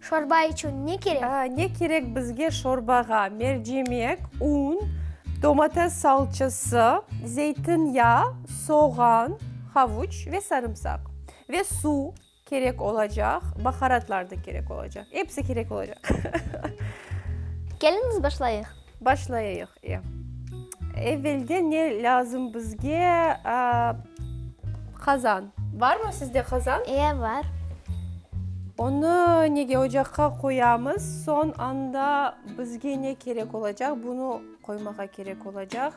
Şorba içün ne kerek? A, ne kerek bizge şorbağa? Mercimek, un, domates salçası, zeytin yağı, soğan, havuç ve sarımsaq. Ve suv kerek olacaq, baharatlar da kerek olacaq. Episi kerek olacaq. Keliñiz başlayıq. Başlayayıq. Evvelden ne lazım bizge? Qazan. Barmı sizde qazan? İe, bar. Onı nege ocaqqa qoyamız? Soñ anda bizge ne kerek olacaq? Bunı qoymağa kerek olacaq.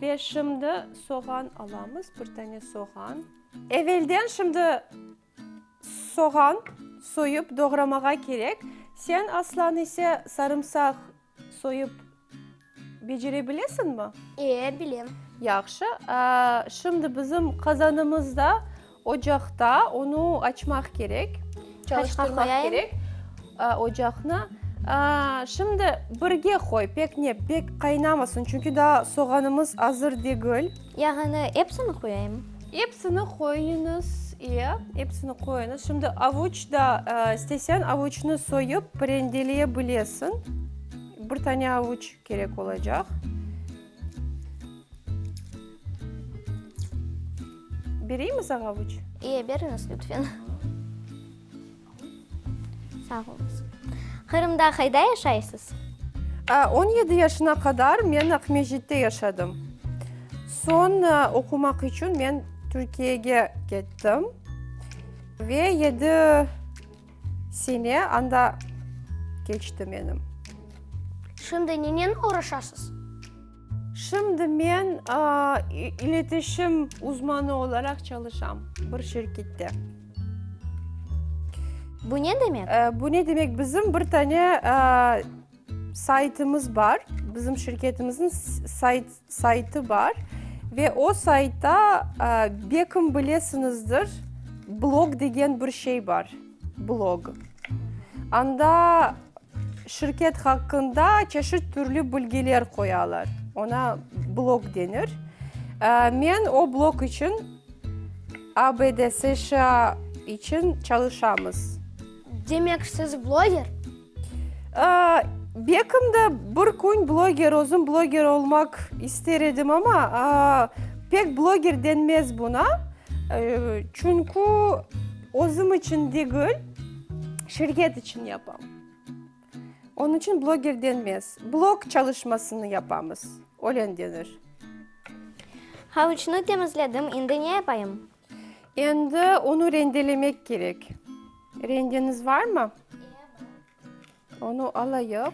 Ve şimdi soğan alamız, bir tane soğan. Evvelden şimdi Soğan soyıp doğramağa kerek. Sen, Aslan, ise sarımsaq soyıp becerebilesiñmi? Ee, bilem. Yahşı. Şimdi bizim qazanımız da ocaqta, onı açmaq kerek. Çalıştırmaq kerek ocaqnı. Şimdi birge qoy, pek ne, pek qaynamasın, çünki daa soğanımız azır degil. Yağını epsini qoyayım? Epsini qoyuñız, iya, epsini qoyuñız. Şimdi avuç da, isteseñ avuçnı soyıp rendeleye bilesiñ. Bir tane avuç kerek olacaq. Bereyim mi saña avuç? İyi, beriñiz lütfen. Sağ olunız. Qırımda qayda yaşaysız? On yedi yaşına qadar men Aqmescitte yaşadım. Soñ oqumaq içün men Türkiyege kettim ve yedi sene anda keçti menim. Şimdi nennen uğraşasız? Şimdi men iletişim uzmanı olaraq çalışam bir şirkette. Bu ne demek? Bu ne demek, bizim bir tane saytımız bar, bizim şirketimizin saytı bar ve o saytta, belki bilesiñizdir, blog degen bir şey bar. Blog. Anda şirket haqqında çeşit türlü bilgiler qoyalar. Oña blog denir. Men o blog içün ABD, SŞA içün çalışamız. Demek, siz bloger? Bekim de bir kün bloger, özüm bloger olmaq ister edim, amma pek bloger denmez buna. Çünkü özüm içün degil, şirket içün yapam. Onıñ içün bloger denmez. Blog çalışmasını yapamız, öyle denir. Havuçnı temizledim, indi ne yapayım? Endi onı rendelemek kerek. Rendeniz varmı? Onı alayıq.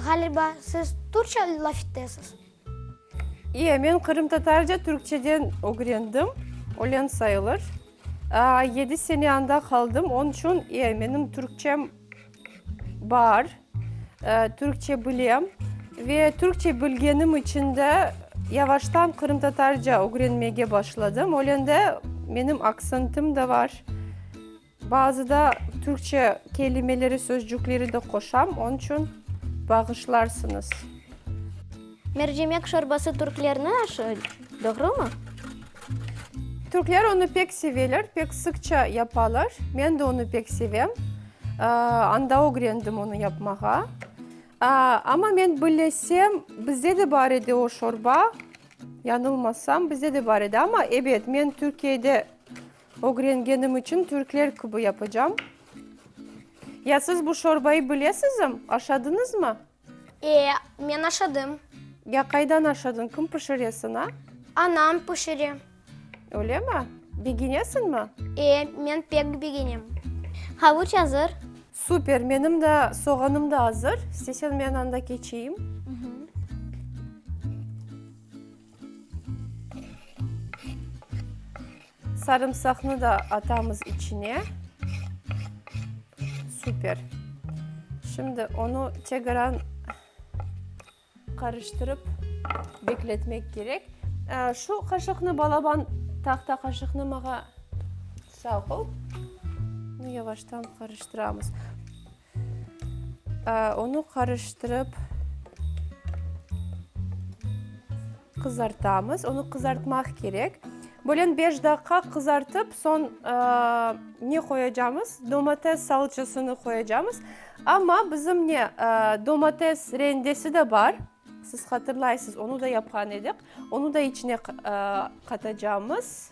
Ğaliba, siz Türkçe laf etesiz? İye, men qırımtatarca Türkçeden ögrendim, ölen sayılır. Yedi sene anda qaldım, onıñ içün menim türkçem bar, türkçe bilem. Ve türkçe bilgenim içün de yavaştan qırımtatarca ögrenmege başladım. Ölende menim aksentim de bar. Bazı da türkçe kelimeleri, sözcükleri de qoşam, onıñ içün bağışlarsıñız. Mercimek şorbası türklerni aşı, doğrumı? Türkler onı pek seveler, pek sıqça yapalar. Men de onı pek sevem. Anda ögrendim onı yapmağa. Amma men bilesem, bizde de bar edi o şorba. Yanılmasam, bizde de bar edi. Amma, ebet, men Türkiyede ögrengenim içün türkler kibi yapacam. Ya siz bu şorbayı bilesizim, aşadıñızmı? E, men aşadım. Ya qaydan aşadın, kim pişire sıña? Anam pişire. Ölemi? Begenesiñmi? E, men pek begenem. Havuç azır. Super, menim da soğanım da azır. İsteseñ men anda keçeyim. Sarımsaqnı da atamız içine. Süper. Şimdi onı teqrar qarıştırıp bekletmek kerek. Şu qaşıqnı, balaban tahta qaşıqnı mağa sağ ol. Yavaştan qarıştıramız. Onı qarıştırıp qızartamız. Onı qızartmaq kerek. Bölen beş daqqa qızartıp, soñ ne qoyacamız? Domates salçasını qoyacamız. Amma bizim ne, domates rendesi de bar. Siz hatırlaysız, onı da yapqan edik. Onı da içine qatacamız.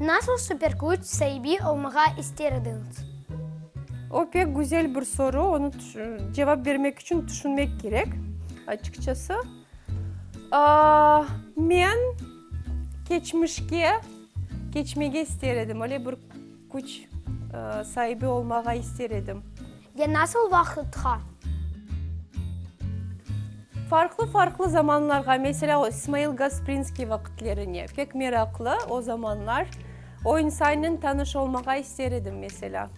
Nasıl superküç saibi olmağa ister ediñiz? O, pek güzel bir soru, onı cevap bermek içün tüşünmek kerek, açıqçası. Men keçmişke keçmege ister edim, öyle bir. Küç saibi olmağa ister edim. Ya nasıl vaqıtqa? Farqlı-farqlı zamanlarğa, meselâ, İsmail Gasprinskiy vaqıtlerine. Pek meraqlı o zamanlar. O insannen tanış olmağa ister edim, meselâ.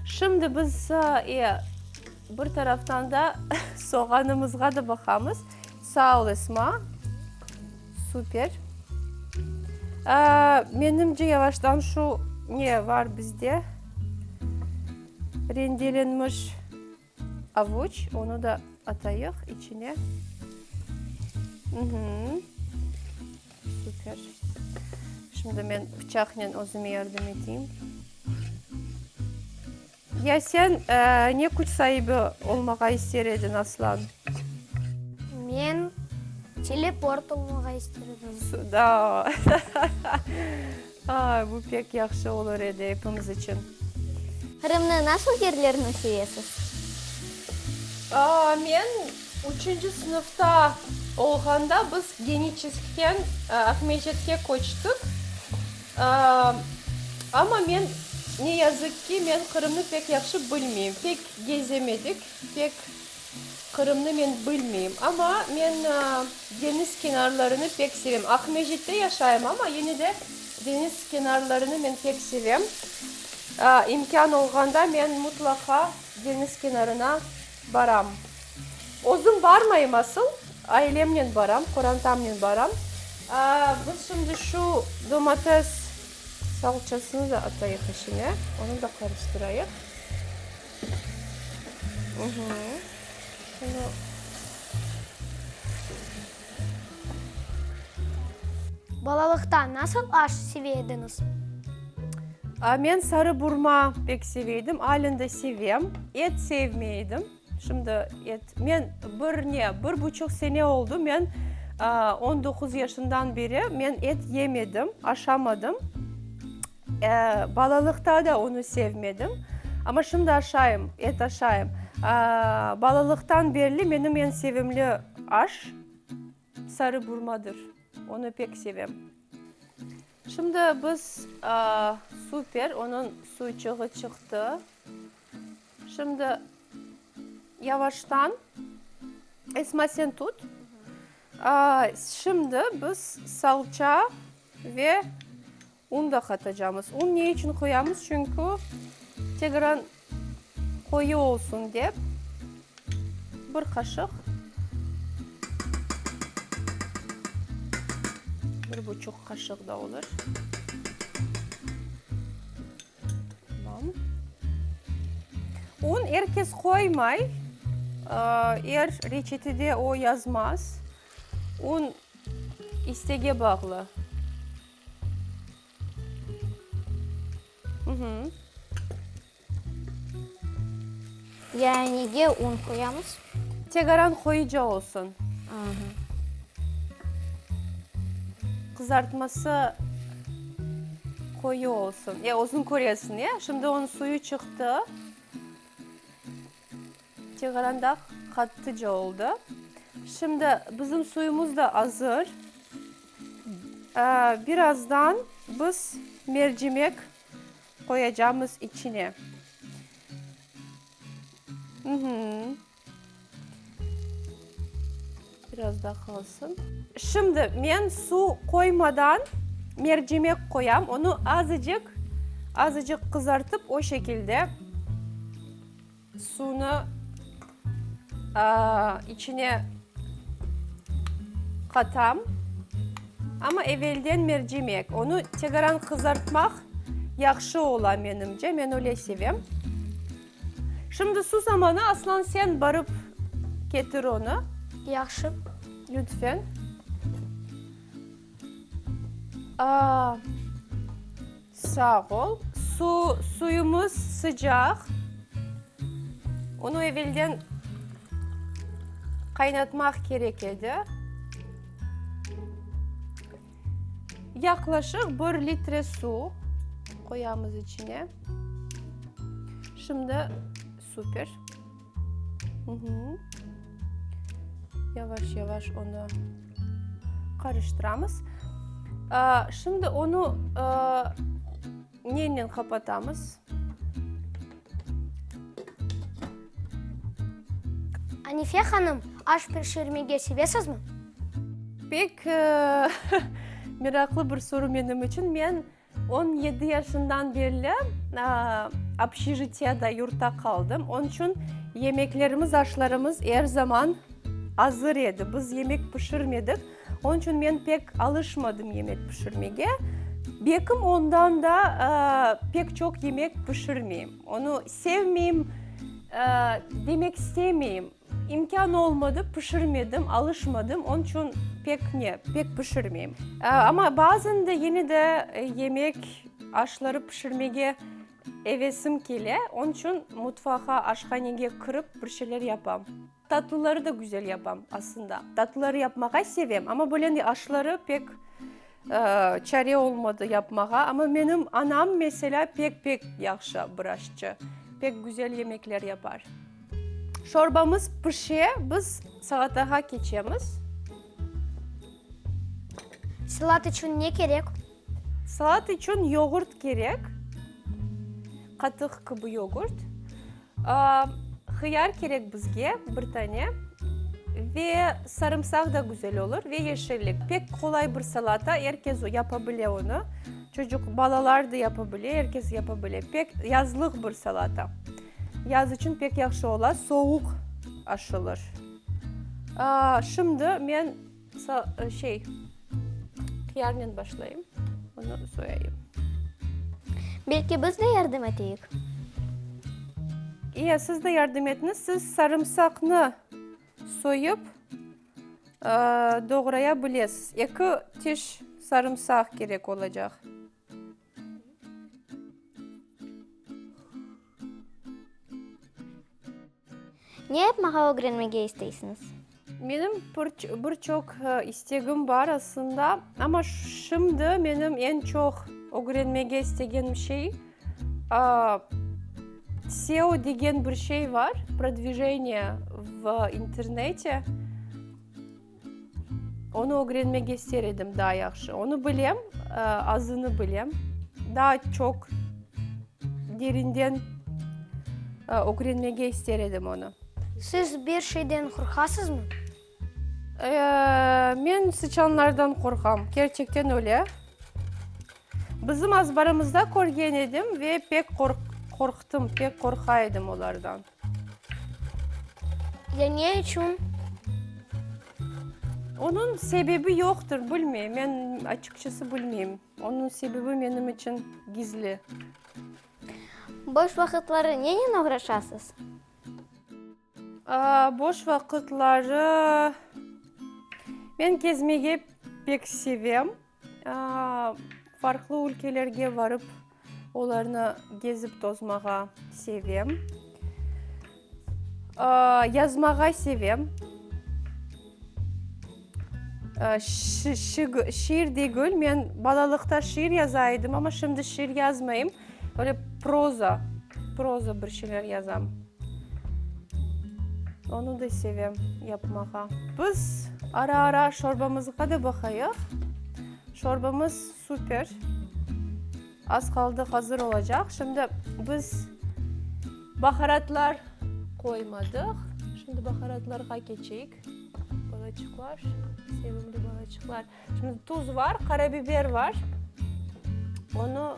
Şimdi biz bir taraftan da soğanımızğa da baqamız. Sağ ol, Esma, super. Menimce, yavaştan şu ne var bizde? Rendelenmiş avuç, onı da atayıq içine. Super. Şimdi men bıçaqnen özüme yardım eteyim. Ya sen ne küç saibi olmağa ister ediñ, Aslan? Men teleport olmağa ister edim. Sudao! Aa, bu pek yahşı olur edi epimiz içün. Qırımnıñ nasıl yerlerini sevesiz? Aa, men üçünci sınıfta olğanda biz Geniçeskten Aqmescitke köçtik. Amma men, ne yazıq ki, men Qırımnı pek yahşı bilmeyim, pek gezemedik, pek Qırımnı men bilmeyim. Amma men deñiz kenarlarını pek sevem. Aqmescitte yaşayım, amma yine de deñiz kenarlarını men pek sevem. İmkân olğanda men mutlaqa deñiz kenarına. Baram. Özüm barmayım asıl, ailemnen baram, qorantamnen baram. Biz şimdi şu domates salçasını da atayıq içine, onı da qarıştırayıq. Şunu. Balalıqta nasıl aş seve ediñiz? A, men sarı burma pek seve edim, alen de sevem. Et sevmey edim. Şimdi et, men bir ne, bir buçuq sene oldu, men, aa, on doquz yaşından beri men et yemedim, aşamadım. Balalıqta da onı sevmedim. Amma şimdi aşayım, et aşayım. Balalıqtan berli menim eñ sevimli aş sarı burmadır. Onı pek sevem. Şimdi biz, super, onıñ suyçığı çıqtı. Şimdi yavaştan, Esma sen tut. Şimdi biz salça ve. Un da qatacamız. Un ne içün qoyamız? Çünkü tegran qoyu olsun dep, bir qaşıq, bir buçuq qaşıq da olur. Tamam. Un er kes qoymay, er reçetede o yazmaz. Un istege bağlı. Yayınige un qoyamız. Tegaran qoyuca olsun. Qızartması qoyu olsun. Ya, özün köresiñ, ya. Şimdi onıñ suyu çıqtı. Teğeranda qattıca oldı. Şimdi bizim suyumuz da azır. Birazdan biz mercimek qoyacağımız içine. Biraz da qalsın. Şimdi men suv qoymadan mercimek qoyam. Onı azıcıq, azıcıq qızartıp, o şekilde suvnı içine qatam. Amma evelden mercimek. Onı teqrar qızartmaq yahşı ola, menimce. Men öyle sevem. Şimdi su zamanı, Aslan, sen barıp ketir onı. Yahşı. Lütfen. Aa, sağ ol. Su, suyumız sıcaq. Onı evelden qaynatmaq kerek edi. Yaqlaşıq bir litre suv qoyamız içine. Şimdi super. Yavaş-yavaş onu qarıştıramız. Şimdi onu Nennen qapatamız? Anife hanım, aş pişirmege sevesizmi? Pek meraqlı bir soru menim içün. Men on yedi yaşından berli obşižitiyada, yurtta qaldım. Onıñ içün yemeklerimiz, aşlarımız er zaman azır edi. Biz yemek pişirmedik. Onıñ içün men pek alışmadım yemek pişirmege. Bekim ondan da pek çoq yemek pişirmeyim. Onı sevmeyim, demek istemeyim. İmkân olmadı, pişirmedim, alışmadım. Onıñ içün pek ne, pek pişirmeyim. Amma bazan da yine de yemek, aşları pişirmege evesim kele. Onıñ içün mutfağa, aşhanege kirip bir şeyler yapam. Tatlıları da güzel yapam, aslında. Tatlıları yapmağa sevem, amma böyle ne, aşları pek çare olmadı yapmağa. Amma menim anam, meselâ, pek-pek yahşı bir aşçı. Pek güzel yemekler yapar. Şorbamız pişe, biz salatağa keçemiz. Salat içün ne kerek? Salat içün yoğurt kerek, qatıq kibi yoğurt. Hıyar kerek bizge, bir tane, ve sarımsaq da güzel olur, ve yeşillik. Pek qolay bir salata, er kes yapa bile onı. Çocuq, balalar da yapa bile, er kes yapa bile. Pek yazlıq bir salata. Yaz içün pek yahşı ola, soğuq aşılır. Şimdi men So, şey, qıyarnen başlayım, onı soyayım. Belki biz de yardım eteyik? İye, siz de yardım etiniz. Siz sarımsaqnı soyıp, doğraya bilesiz. Eki tiş sarımsaq kerek olacaq. Ne yapmağa ögrenmege isteysiñiz? Menim bir çoq istegim bar aslında, amma şimdi menim eñ çoq ögrenmege istegenim şey, SEO degen bir şey bar, prodvijeniye v internete. Onı ögrenmege ister edim daa yahşı. Onı bilem, azını bilem. Daa çoq derinden ögrenmege ister edim onı. Siz bir şeyden qorqasızmı? Men sıçanlardan qorqam, kerçekten öyle. Bizim azbarımızda körgen edim ve pek qorqtım, pek qorqa edim olardan. Ya ne içün? Onıñ sebebi yoqtır, bilmey. Men açıqçası bilmeyim. Onıñ sebebi menim içün gizli. Boş vaqıtları nenen oğraşasız? Aa, boş vaqıtları men kezmege pek sevem. Farqlı ülkelerge varıp, olarnı gezip tozmağa sevem. Yazmağa sevem. Şiir degil, men balalıqta şiir yaza edim, amma şimdi şiir yazmayım, böyle proza, proza bir şeyler yazam. Onı da sevem yapmağa. Biz ara-ara şorbamızğa da baqayıq. Şorbamız super. Az qaldı hazır olacaq. Şimdi biz baharatlar qoymadıq. Şimdi baharatlarğa keçeyik. Balaçıqlar, sevimli balaçıqlar. Şimdi tuz var, qarabiber var. Onı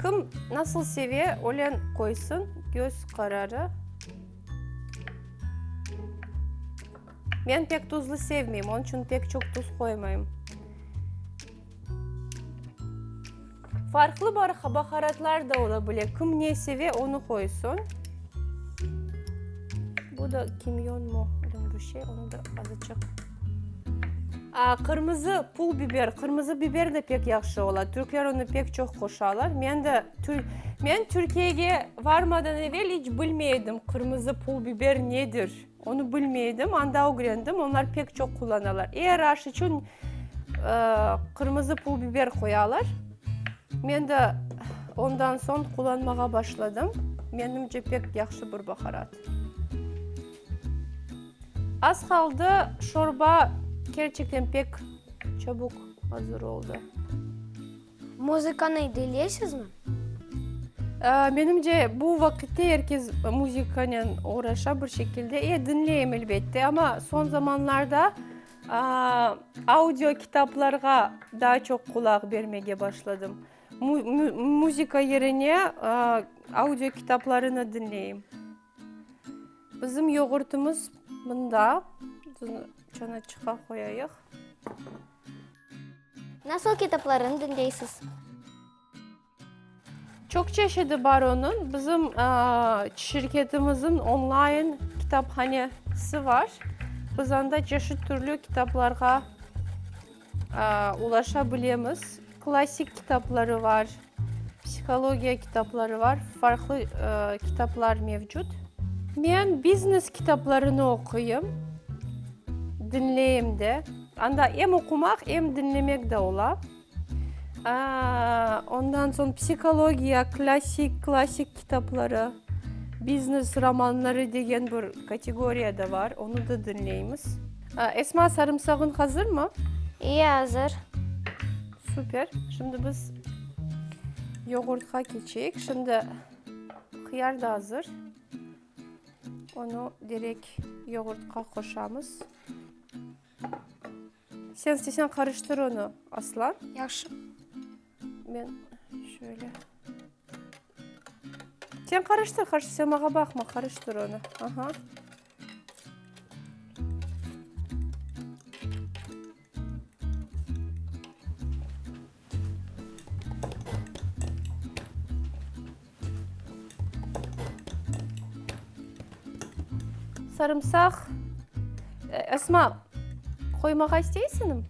kim nasıl seve, öyle qoysın. Göz qararı. Men pek tuzlu sevmeyim, onıñ içün pek çoq tuz qoymayım. Farqlı bar baharatlar da ola bile. Kim ne seve, onı qoysun. Bu da kimyon mu, öyle bir şey, onı da azıcıq. Aa, qırmızı pul biber, qırmızı biber de pek yahşı ola. Türkler onı pek çoq qoşalar. Men de, men Türkiyege varmadan evel iç bilmey edim, qırmızı pul biber nedir. Onı bilmeydim, anda ögrendim, onlar pek çoq qullanalar. Er aş içün qırmızı pul biber qoyalar. Men de ondan soñ qullanmağa başladım. Menimce, pek yahşı bir baharat. Az qaldı, şorba kerçekten pek çabuk azır oldı. Muzıkanı dileysizmi? Menimce, bu vaqitte er kes muzıkanen oğraşa bir şekilde. E, diñleyim, elbette. Amma soñ zamanlarda audio kitaplarğa daa çoq qulaq bermege başladım. Muzıka yerine audio kitaplarını diñleyim. Bizim yoğurtımız mında. Çanaçıqqa qoyayıq. Nasıl kitaplarını diñleysiz? Çoq çeşidi bar onıñ. Bizim şirketimizniñ onlayn kitaphanesi bar. Biz anda çeşit türlü kitaplarğa ulaşa bilemiz. Klassik kitapları bar. Psihologiya kitapları var, farqlı kitaplar mevcut. Men biznes kitaplarını oquyım, diñleyim de. Anda em oqumaq, em diñlemek de ola. Ondan soñ psihologiya, klassik, klassik kitapları, biznes romanları degen bir kategoriya da var, onı da diñleymiz. Esma, sarımsağıñ hazırmı? İyi, azır. Süper. Şimdi biz yoğurtqa keçeyik. Şimdi hıyar da azır. Onu direkt yoğurtqa qoşamız. Sen istesen qarıştır onu, Aslan. Yaxşı. Ben şöyle. Sen qarıştır, qarıştır. Sen mağa baqma, qarıştır onu. Aha. Sarımsaq, Esma, qoymağa isteysinim?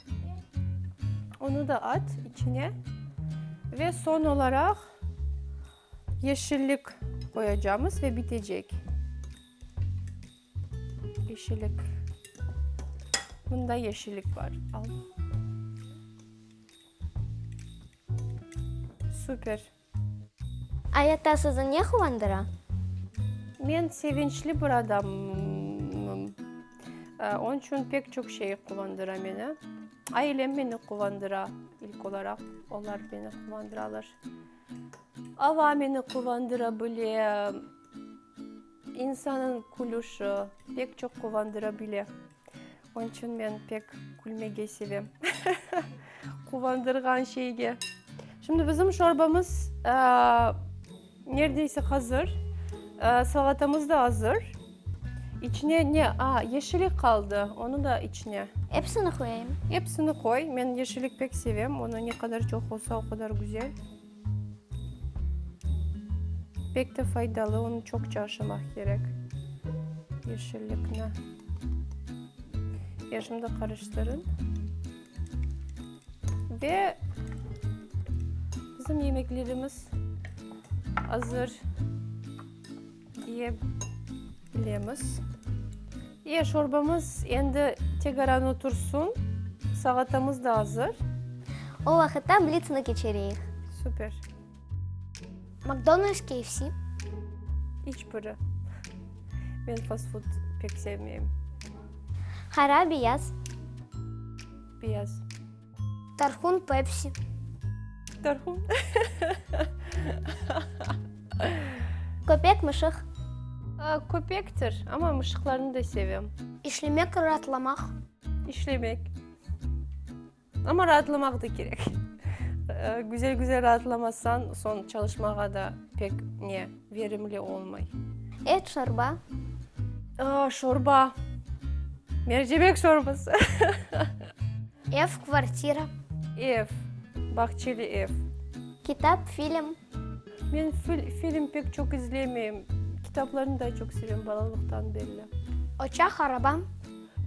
Onu da at içine. Ve son olaraq yeşillik qoyacamız ve bitecek. Yeşillik. Bunda yeşillik var. Al. Süper. Ayatta sizi ne quvandıra? Men sevinçli bir adamım. Ee, Onun için pek çok şey quvandıra meni. Ailem beni quvandıra. İlk olarak onlar beni quvandıralar. Ava beni quvandıra bile. İnsannıñ külüşi pek çoq quvandıra bile. Onıñ içün men pek külmege sevem. Quvandırğan şeyge. Şimdi bizim şorbamız nerdeyse hazır. Salatamız da azır. İçine ne? Aa, yeşillik qaldı. Onı da içine. Episini qoyayım. Episini qoy. Men yeşillik pek sevem. Onı ne qadar çoq olsa, o qadar güzel. Pek de faydalı, onı çoqça aşamaq kerek, yeşillikni. Ya, şimdi qarıştırın. Ve bizim yemeklerimiz azır. Ye bilemiz. Ye, şorbamız endi tegaran otursun. Salatamız da azır. O vaqıtta blitsni keçireyik. Super. Makdonalds, KFC? İç biri. Men fastfud pek sevmeyim. Qara, beyaz? Beyaz. Tarhun Pepsi. Tarhun. Köpek Mışıq. Köpektir, amma mışıqlarnı da sevem. İşlemek raatlamaq. İşlemek. Amma raatlamaq da kerek. Güzel güzel raatlamasañ, soñ çalışmağa da pek ne. verimli olmay. Et şorba. Aa, şorba. Mercimek şorbası. Ev, kvartira. Ev, bahçeli ev. Kitap, film. Men film pek çoq izlemeyim. Kitaplarnı daa çoq sevem, balalıqtan belli. Oçaq, araba.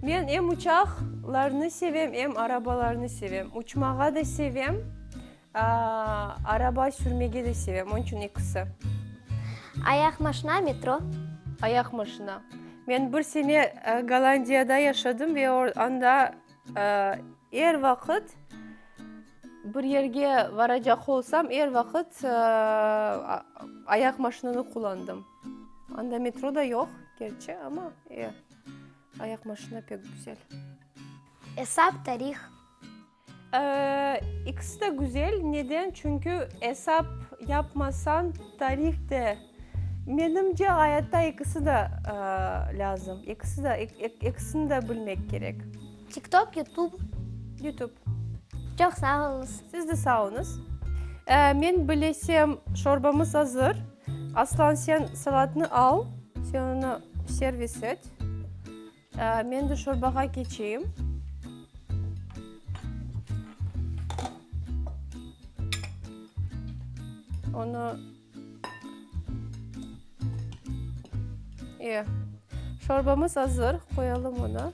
Men em uçaqlarnı sevem, em arabalarnı sevem. Uçmağa da sevem, Araba sürmege de sevem, onıñ içün ekisi. Ayaq maşina, metro. Ayaq maşina. Men bir sene Gollandiyada yaşadım ve anda er vaqıt bir yerge varacaq olsam, er vaqıt ayaq maşinanı qullandım. Anda metro da yoq, kerçi, amma ayaq maşina pek güzel. Esap, tarih. İkisi de güzel, neden? Çünkü esap yapmasañ tarih de, menimce, ayatta ikisi de lazım, ikisi de, ikisini de bilmek kerek. Tiktok, yutub. Yutub. Çoq sağ oluñız. Siz de sağ oluñız. Men bilesem, şorbamız azır. Aslan, sen salatnı al, sen onı servis et. Men de şorbağa keçeyim. Onı e, şorbamız azır, qoyalım onı.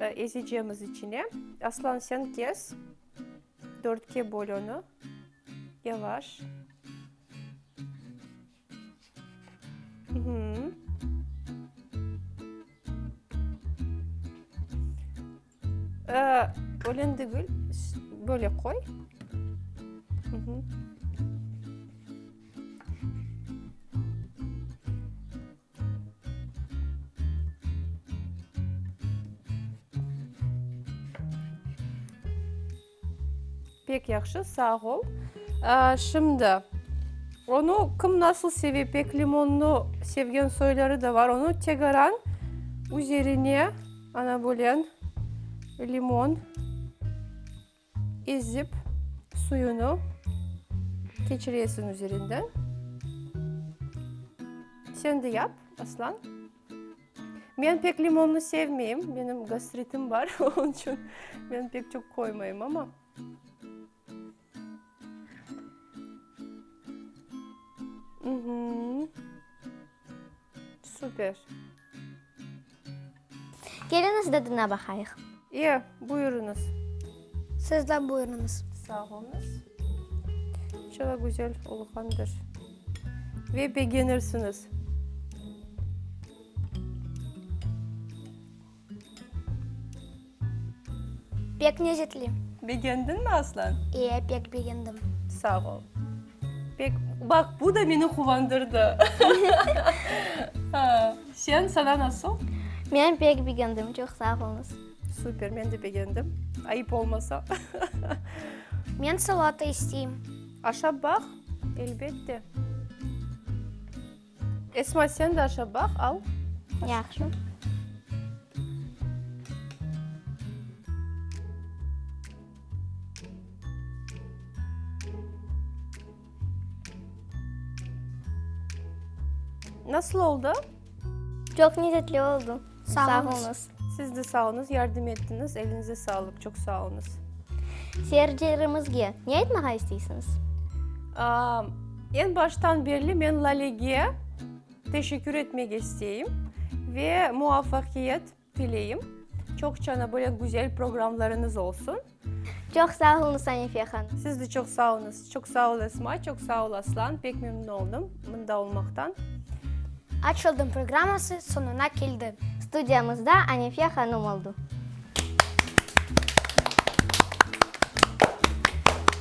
Ezecemiz içine. Aslan, sen kes, dörtke böl onı, yavaş. Ölen degil, böyle qoy. Pek yahşı, sağ ol. Şimdi, onı kim nasıl seve, pek limonnı sevgen soyları da var. Onı tegeran üzerine, ana, böyle limon. Ezip, suyunı keçiresiñ üzerinden. Sen de yap, Aslan. Men pek limonlı sevmeyim, menim gastritim bar, onıñ içün men pek çoq qoymayım, amma. Süper. Keliñiz, dadına baqayıq. Ye, buyurıñız. Siz de buyurıñız. Sağ oluñız. Çıla güzel olğandır. Ve begenirsiñiz. Pek nezetli. Begendin mi Aslan? E, pek begendim. Sağ ol. Pek, baq, bu da meni quvandırdı. Sen, sana nasıl? Men pek begendim, çoq sağ olunız. Super, men de begendim, ayıp olmasa. Men salata isteyim. Aşap baq, elbette. Esma, sen de aşav baq, al. Yahşı. Nasıl oldı? Çoq nezzetli oldı. Sağolunız. Siz de sağ olunız, yardım ettiniz. Elinize sağlıq, çoq sağ olunız. Seyircilerimizge ne aytmağa isteysiniz? Eñ baştan berli men Lalege teşekkür etmek isteyim ve muvafaqiyet tileyim. Çoq çana böyle güzel programlarınız olsun. Çoq sağ olunız, Sanife hanım. Siz de çoq sağ olunız. Çoq sağ ol, Esma, çoq sağ ol, Aslan. Pek memnün oldım mında olmaqtan. Açıldım programması soñuna keldi. Studiyamızda Anife hanım oldu.